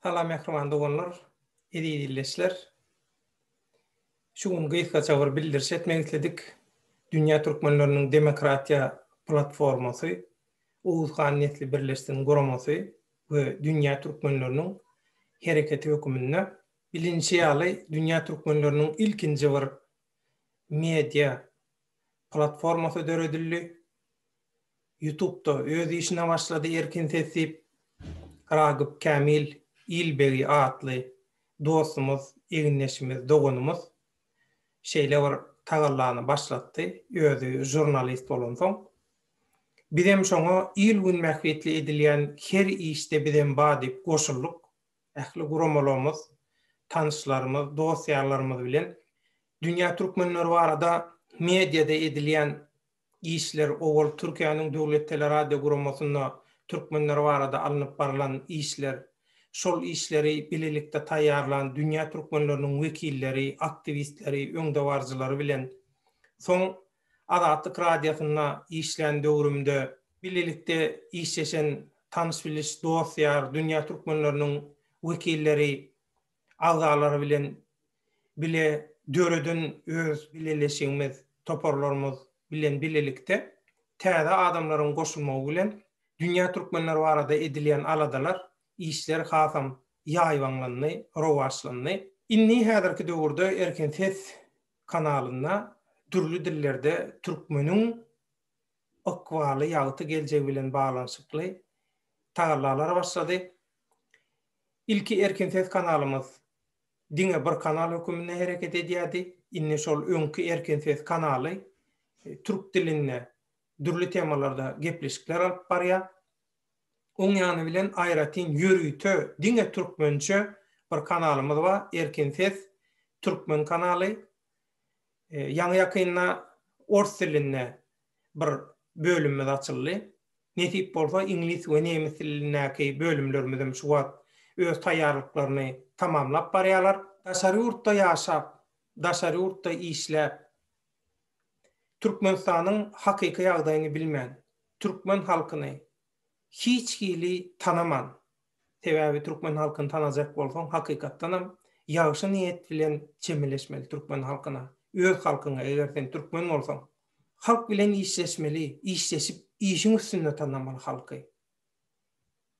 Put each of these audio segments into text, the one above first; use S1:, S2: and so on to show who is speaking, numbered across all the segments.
S1: Salam mähriban doganlar, eziz ildeşler! Şu gün gysgaça bir bildiriş etmek isledik. Dünýä Türkmenleriniň Demokratiýa Platformasy, Oguzhan Nesli Birleşsin guramasy we Dünýä Türkmenleriniň Hereketi höküminde, bilinişi ýaly, dünýä türkmenleriniň ilkinji bir media platformasy döredildi. Ýutubda öz işine başlady Erkin ses diýip, Ragyp Kämil Ilbegi atly dostumyz, egindeşimiz, doganymyz şeýle bir tagallany başlatdy, özi žurnalist bolansoň. Bizem şoňa il-gün bähbitli edilýän her işde bizem ba diýip goşuldyk. Ähli guramalagymyz, tanyşlarymyz, dost-ýarlarymyz bilen dünýä türkmenleri barada mediada edilýän işler owal Türkiýäniň Döwlet Teleradioguramosynda türkmenler barada alnyp barlan işler, şol işleri bilelikde taýýarlan dünýä türkmenleriniň wekilleri, aktiwistleri, öňdebaryjylary bilen, soň Azatlyk Radiosynda işlän döwrümde, bilelikde işleşen tanyş-biliş, dost-ýar, dünýä türkmenleriniň wekilleri, agzalary bilen bile döreden öz bileleşigimiz, toparlarymyz bilen bilelikde täze adamlaryň goşulmagy bilen dünýä türkmenleri barada edilýän aladalar, işler hasam ýaýbaňlandy, rowaçlandy. Indi häzirki döwürde Erkin ses kanalynda dürli dillerde türkmeniň ykbaly ýagty geljegi bilen baglanyşykly tagallalar başlady. Ilki Erkin ses kanalymyz diňe bir kanal höküminde hereket edýärdi, indi şol öňki Erkin ses kanaly türk dilinde dürli temalarda gepleşikler alyp barýar. Oň ýany bilen aýratyn ýörite diňe türkmençe bir kanalymyz bar, Erkin ses türkmen kanaly. Ýaňy-ýakynda ors dilinde bir bölümimiz açyldy. Nesip bolsa, iňlis we nemes dilindäki bölümlerimizem şu wagt öz taýýarlyklaryny tamamlap barýarlar. Daşary ýurtda ýaşap, daşary ýurtda işläp, Türkmenistanyň hakyky ýagdaýyny bilmän, türkmen halkyny hiç hili tanaman, sebäbi türkmen halkyny tanajak bolsaň hakykatdanam ýagşy niýet bilen çemeleşmeli türkmen halkyna, öz halkyňa eger sen türkmen bolsaň halk bilen işleşmeli, işleşip işiň üstünde tanamaly halky.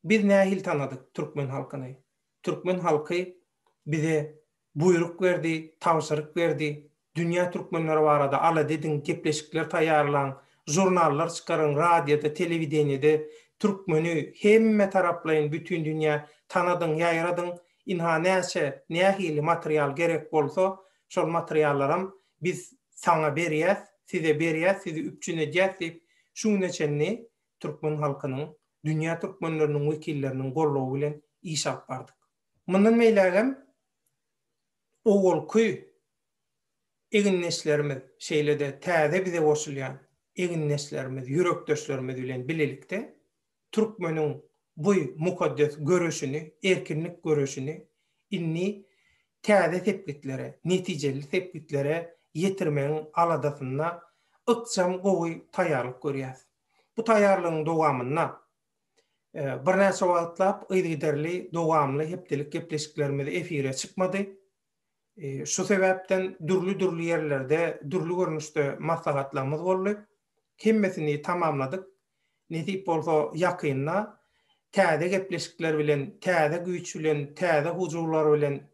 S1: Biz nähili tanadyk türkmen halkyny? Türkmen halky bize buýruk berdi, tabşyryk berdi, dünýä türkmenleri barada alada ediň, gepleşikler taýýarlaň, žurnallar çykaryň, radioda, telewideniýede türkmeni hemme taraplaýyn bütin dünýä tanadyň, ýaýradyň, ynha näçe, nähili material gerek bolsa, şol materiallaram biz saňa berýäs, size berýäs, sizi üpjün edýäs diýip, şu güne çenli türkmen halkynyň, dünýä türkmenleriniň wekilleriniň goldawy bilen iş alyp bardyk. Mundan beýläk hem owalky egindeşlerimiz, şeýle-de täze bize goşulýan egindeşlerimiz, ýürekdeşlerimiz bilen bilelikde türkmeniň bu mukaddes göreşini, erkinlik göreşini indi täze sepgitlere, netijeli sepgitlere ýetirmegiň aladasynda ykjam gowy taýýarlyk görýäs. Bu taýýarlygyň dowamynda birnäçe wagtlap yzygiderli dowamly hepdelik gepleşiklerimiz efire çykmady. Şu sebäpden dürli-dürli ýerlerde dürli görnüşde maslahatlarymyz boldy. hemmesini tamamladyk. Nesip bolsa ýakynda täze gepleşikler bilen, täze güýç bilen, täze hujurlar bilen,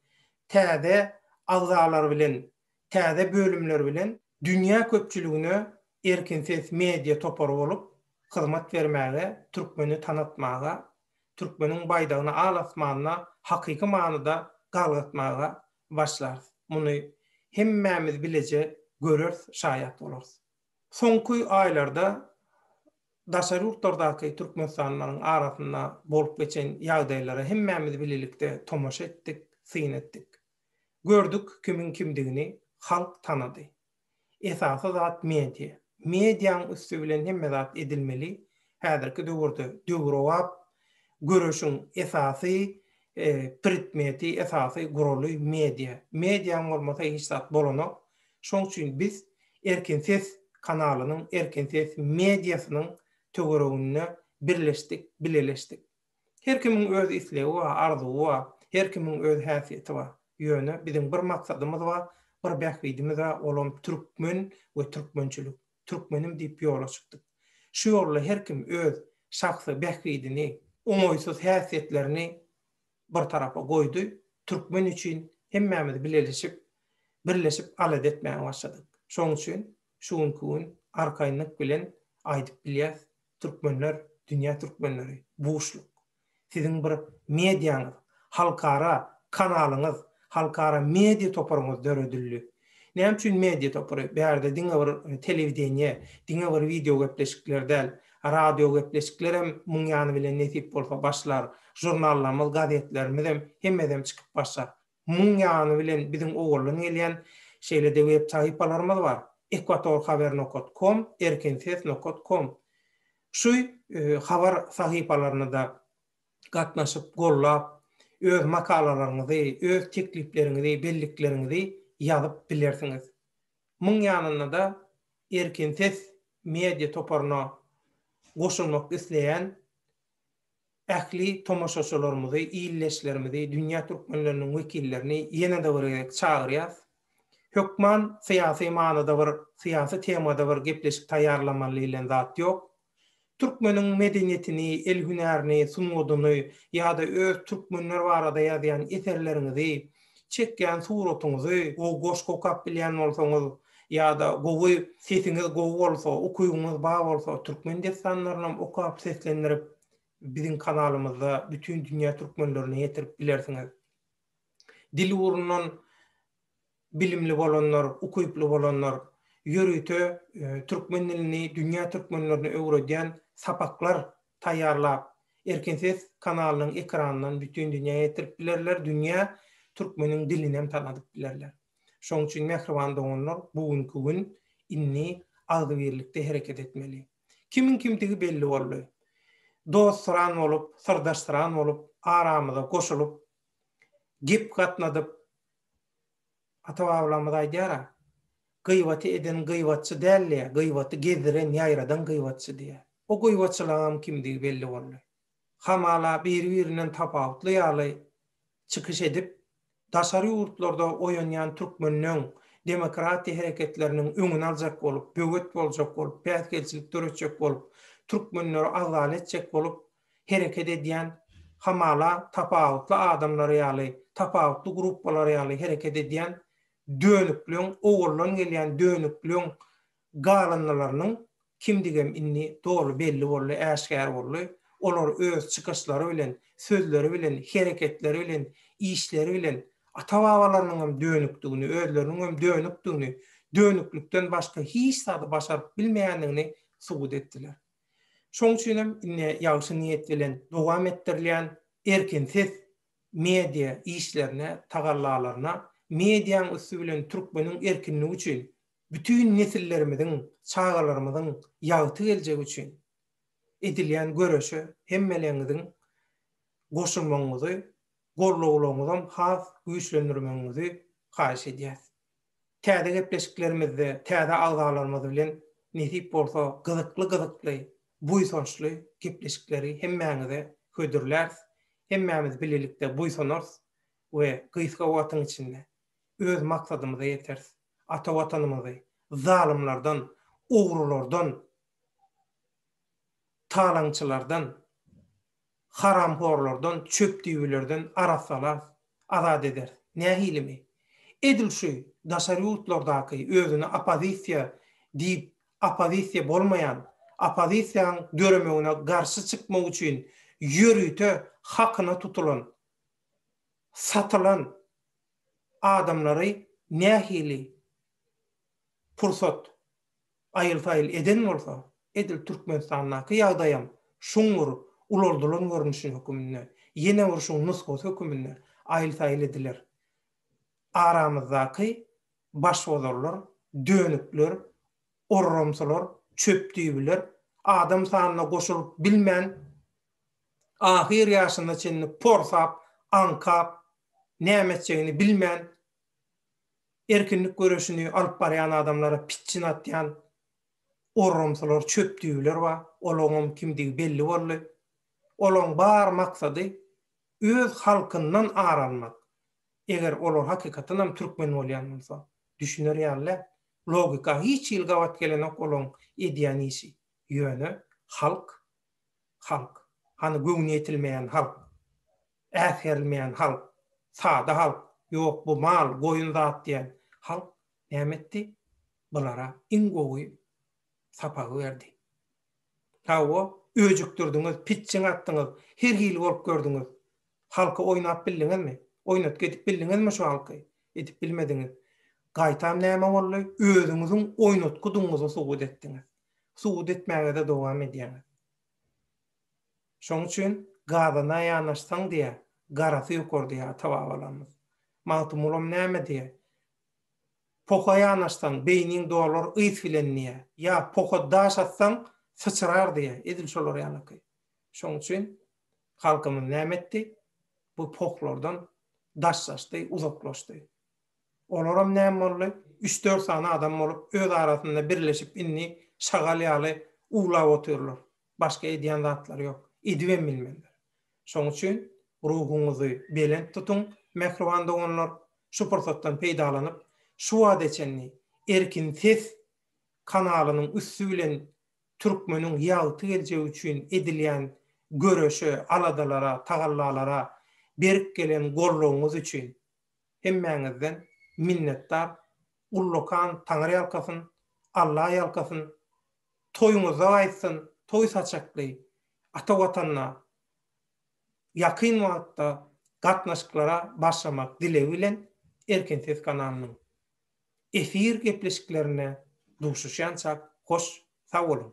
S1: täze agzalar bilen, täze bölümler bilen dünýä köpçüligine Erkin ses media topary bolup hyzmat bermäge, türkmeni tanatmaga, türkmeniň baýdagyny al asmanda hakyky manyda galgatmaga başlarys. Muny hemmämiz bileje göreris, şaýat bolarys. Soňky aýlarda daşary ýurtlardaky türkmenistanlylaryň arasynda bolup geçen ýagdaýlara hemmämiz bilelikde tomaşa etdik, syn etdik. Gördük kimiň kimdigini halk tanady. Esasy zat media. Mediaň üsti bilen hemme zat edilmeli. Häzirki döwürde döwrebap göreşiň esasy predmeti, esasy guraly media. Mediaň bolmasa hiç zat bolanok. Şoň üçin biz Erkin ses kanalynyň, Erkin ses mediasynyň töwereginde birleşdik, bileleşdik. Her kimiň öz islegi bar, arzuwy bar, her kimiň öz häsiýeti bar. Ýöne biziň bir maksadymyz bar, bir bähbidimiz bar, olam türkmen we türkmençilik. Türkmenim diýip ýola çykdyk. Şu ýolda her kim öz şahsy bähbidini, oňaýsyz häsiýetlerini bir tarapa goýdy, türkmen üçin hemmämiz bileleşip, birleşip alada etmäge başladyk. Şoň üçin şu günki gün arkaýynlyk bilen aýdyp bilýäs, türkmenler, dünýä türkmenleri, buşluk. Siziň bir mediaňyz, halkara kanalyňyz, halkara media toparyňyz döredildi. Näme üçin media topary? Bärde diňe bir telewideniýe, diňe bir wideo gepleşikler däl, radio gepleşikler hem muň ýany bilen nesip bolsa başlar, žurnallarymyz, gazetlerimiz hem hemmesem çykyp başlar. Muň ýany bilen biziň owaldan gelýän şeýle-de web sahypalarymyz bar, ekwatorhaber nokat kom, erkinses nokat kom. Şu habar sahypalaryny-da gatnaşyp, gollap, öz makalalaryňyzy, öz teklipleriňizi, bellikleriňizi ýazyp bilersiňiz. Muň ýanynda-da Erkin ses media toparyna goşulmak isleýän ähli tomaşaçylarymyzy, ildeşlerimizi, dünýä türkmenleriniň wekillerini ýene-de bir gezek çagyrýas. Hökman syýasy manyda bir, syýasy temada bir gepleşik taýýarlamaly diýlen zat ýok. Türkmeniň medeniýetini, el hünärini, sungatyny ýa-da öz türkmenler barada ýazýan eserleriňizi, çekýän suratyňyzy gowy goşgy okap bilýän bolsaňyz ýa-da gowy sesiňiz gowy bolsa, ukybyňyz bar bolsa türkmen dessanlarynam okap seslendirip biziň kanalymyzda bütin dünýä türkmenlerine ýetirip bilersiňiz. Dil ugrundan bilimli bolanlar, ukyply bolanlar ýörite türkmen dilini dünýä türkmenlerine öwredýän sapaklar taýýarlap, Erkin ses kanalynyň ekranyndan bütin dünýä ýetirip bilerler, dünýä türkmeniň dilinem tanadyp bilerler. Şonuň üçin mähriban doganlar, bu günki gün indi agzybirlikde hereket etmeli. Kimiň kimdigi belli boldy. Dostsyran bolup, syrdaşsyran bolup, aramyza goşulyp, gep gatnadyp, Ata-babalarymyz aýdýar-a, Gyýbaty eden gyýbatçy däldi-ä, gyýbaty gezdiren, ýaýradan gyýbatçy diýýär. O gyýbatçylaňam kimdigi belli boldy. Hamala, biri-birinden tapawutly ýaly çykyş edip, daşary ýurtlarda oýanýan türkmeniň demokratiýa hereketleriniň öňüni aljak bolup, böwet boljak bolup, päsgelçilik döretjek bolup, türkmenleri agzal etjek bolup, hereket edýän, hamala tapawutly adamlar ýaly, tapawutly gruppalar ýaly hereket edýän dönükligiň, owaldan gelýän dönükligiň galyndylarynyň kimdigem indi doly belli boldy, äşgär boldy. Olar öz çykyşlary bilen, sözleri bilen, hereketleri bilen, işleri bilen ata-babalarynyňam dönükdigini, özleriniňem dönükdigini, dönüklikden başga hiç zady başaryp bilmeýändigini subut etdiler. Şoň üçin hem indi ýagşy niýet bilen dowam etdirilýän erkinsiz media işlerine, tagallalaryna, mediaň üsti bilen türkmeniň erkinligi üçin, bütin nesillerimiziň, çagalarymyzyň ýagty geljegi üçin edilýän göreşe hemmeleriňiziň goşulmagyňyzy, gollawlaryňyzam has güýçlendirmegiňizi haýyş edýäs. Täze gepleşiklerimizde täze agzalarymyz bilen nesip bolsa gyzykly-gyzykly, buýsançly gepleşikleri hemmäňize hödürläris. Hemmämiz bilelikde buýsanarys we gysga wagtyň içinde öz maksadymyza ýeteris. Ata Watanymyzy zalymlardan, ogrulardan, talaňçylardan, haramhorlardan, çöpdüýbilerden arassalarys, azat ederis. Nähilimi? Edil şu daşary ýurtlardaky özüne oppozisiýa diýip oppozisiýa bolmaýan, oppozisiýaň döremegine garşy çykmak üçin ýörite hakyna tutulan, satylan adamlary nähili pursat aýyl-saýyl eden bolsa, edil Türkmenistandaky ýagdaýam şuň bir ulaldylan görnüşi höküminde, ýene bir şuň nusgasy höküminde aýyl-saýyl ediler. Aramyzdaky başbozarlar, dönükler, orramsylar, çöpdüýbiler, adam sanyna goşulyp bilmän, ahyr ýaşyna çenli porsap, aňkap, näme etjegini bilmän erkinlik göreşini alyp barýan adamlara pitjin atýan orrumsylar, çöpdüýbiler bar. Olaňam kimdigi belli boldy. Olaň bar maksady öz halkyndan ar almak. Eger olar hakykatdanam türkmen bolýan bolsa, düşüner ýaly däl. Logika hiç hili gabat gelenok olaň edýän işi. Ýöne halk, halk. Hany göwni ýetilmeýän halk. Äsgerilmeýän halk, sada halk, ýok bu mal, goýun zat diýen halk näme etdi? Bulara iň gowy sapagy berdi. Hawa, öjükdirdiňiz, pitjiň atdyňyz, her hili bolup gördüňiz. Halky oýnap bildiňizmi? Oýnatgy edip bildiňizmi şu halky? Edip bilmediňiz. Gaýtam näme boldy? Özüňiziň oýnatgydygyňyzy subut etdiňiz. Subut etmäge-de dowam edýäňiz. Şoň üçin Gazana ýanaşsaň diýýä, garasy ýokar diýýä ata-babalarymyz. Magtymgulam näme diýýä? Poha ýanaşsaň, beýniň dolar ys bilen diýýä. Ýa poha daş atsaň, syçrar diýýä. Edil şolar ýalyky. Şoň üçin halkymyz näme etdi? Bu pohlardan daşlaşdy, uzaklaşdy. Olaram näme boldy? Üç-dört sany adam bolup, öz arasynda birleşip indi şagal ýaly uwlap otyrlar. Başga edýän zatlary ýok. Edibem bilmezler. Şoň üçin ruhuňyzy belent tutuň, mähriban doganlar. Şu pursatdan peýdalanyp, şu wagta çenli Erkin ses kanalynyň üsti bilen türkmeniň ýagty geljegi üçin edilýän göreşe, aladalara, tagallalara berk gelen goldawyňyz üçin Hemmäňizden minnetdar ullakan Taňyrýalkasyn Allaýalkasyn Toýuňyzda gaýtsyn toý saçakly ata watanda ýakyn wagtda gatnaşyklara başlamak dilegi bilen Erkin ses kanalynyň efir gepleşiklerinde duşuşýançak hoş sag boluň.